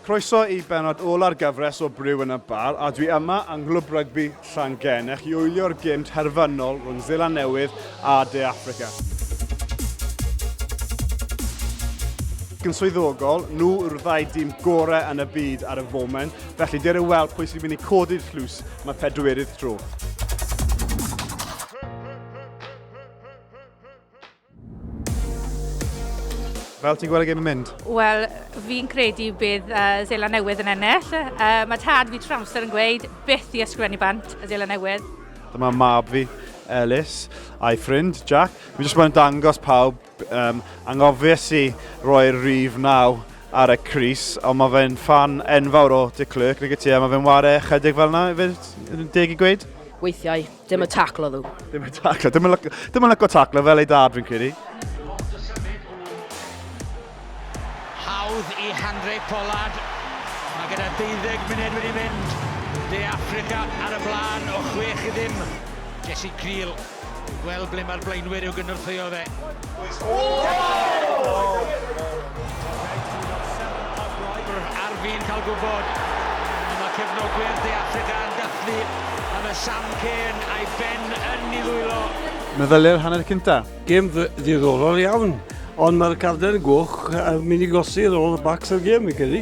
Croeso i benod ola'r gyfres o Brew yn y Bar a dwi yma yng Nghlwb Rygbi Llangennech i wylio'r gym terfynol rhwng Zeland Newydd a De Affrica. yn swyddogol, nhw yw'r ddau dîm gorau yn y byd ar y foment, felly dyr yn weld pwy sy'n mynd i codi'r llws am y pedwerydd tro. Fel ti'n gweld y gêm yn mynd? Wel, fi'n credu bydd uh, Zela Newydd yn ennill. Uh, mae tad fi trwy amser yn gweud byth i ysgrifennu bant y Zela Newydd. Dyma mab fi, Elis, a'i ffrind, Jack. Fi jyst yn dangos pawb um, angofies i roi'r rif naw ar y Cris, ond mae fe'n fan enfawr o Dick Clerk, nag y ti, a mae fe'n ware chydig fel yna, fe deg i gweud? Weithiau. Dim y taclo ddw. Dim y taclo. Dim yn lyco taclo fel ei dad fi'n credu. Hawdd i Handre Pollard. Mae gyda 20 munud wedi mynd. De Africa ar y blaen o 6 i ddim. Jesse Creel. Gweld ble mae'r blaenwyr i'w gynorthwyo fe. Ar fin cael gwybod y mae cefnogwyr De Affrica yn dathlu am y Sam Cane a'i phen yn ei ddwylo. Meddyliau'r hanner cyntaf. Gêm ddiddorol iawn, ond mae'r carden goch yn mynd i golli rôl y bacs o'r gêm, fi'n credu.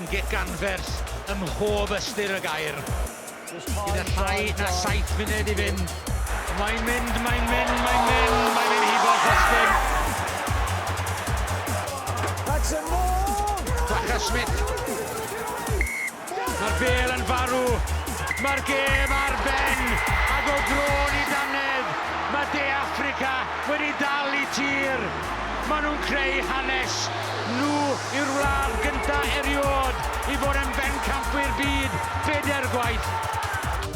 Yn gic anferth ym mhob ystyr y gair. Gyda llai na saith munud i fynd. Mae'n mynd, mae'n mynd, mae'n mynd, mae'n mynd hibo Justin. Jackson Moore! Jaca Smith. Mae'r bel yn farw. Mae'r gêm ar ben. Ac o drôn i dannedd, mae De Affrica wedi dal i tir. Maen nhw'n creu hanes nhw i'r wlad gynta erioed i fod yn bencampwyr byd bedair gwaith.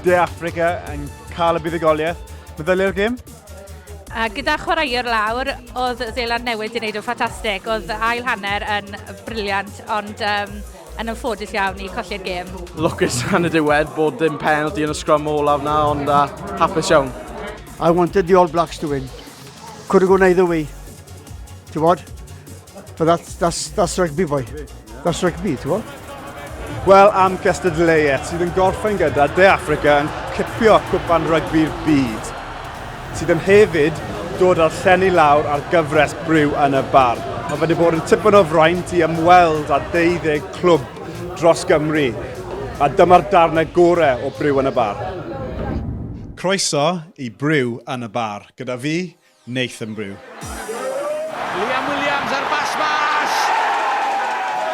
De Affrica yn cael y buddugoliaeth. Meddyliau'r gêm? A gyda chwaraewr lawr, oedd Zeland Newid yn neud yn ffantastig. Oedd ail hanner yn briliant, ond um, yn anffodus iawn i colli'r gêm. Lwcus yn y diwedd bod dim penalty yn y sgrum olaf na, ond uh, hapus iawn. I wanted the All Blacks to win. Could have gone either way. Ti'n bod? But that's, that's, that's rugby, boy. That's rugby, ti'n bod? Wel, am Cestard Leyet, sydd yn gorffen gyda De Africa yn cipio cwpan rygbi'r byd, sydd yn hefyd dod â'r llenni lawr ar gyfres briw yn y bar. Mae wedi bod yn tipyn o fraint i ymweld â 12 clwb dros Gymru, a dyma'r darnau gorau o briw yn y bar. Croeso i briw yn y bar. Gyda fi, Nathan Brew. Liam Williams ar bas mas!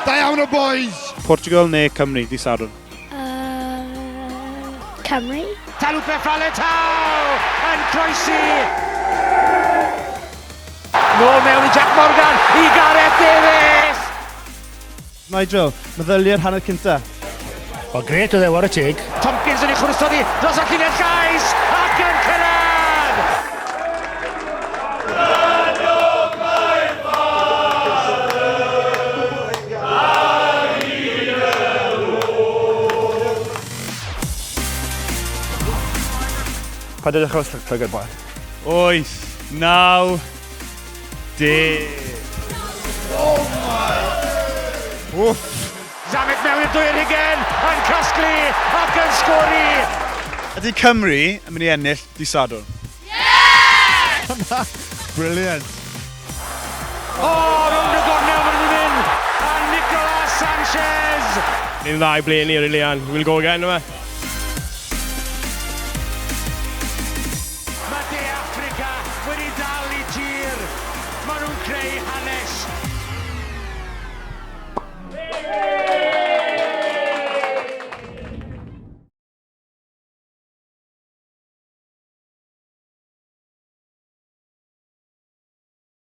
Da iawn o boys! Portugal neu Cymru, di Sadwrn? Uh, Cymru. Talupe Faletau yn croesi! Nôl mewn i Jack Morgan i Gareth Davies! Nigel, meddyliau'r hanner cyntaf? Wel, gret oedd e, war y teg. Tomkins yn ei chwrtho di dros y llinell gais ac yn cyrraedd! Paid â dechrau llygad boi. Wyth. Naw. De. Oh my! Wff! Zamet mewn i'r dwyr hugen, yn casglu ac yn sgori! Ydy Cymru yn mynd i ennill di Sadwrn? Brilliant. O, oh, rownd y gornel fan hyn, a Nicolas Sanchez! Ni'n dda i bleu ni, rili, and we'll go again, yma. Mae De Affrica wedi dal i tir! Maen nhw'n creu hanes!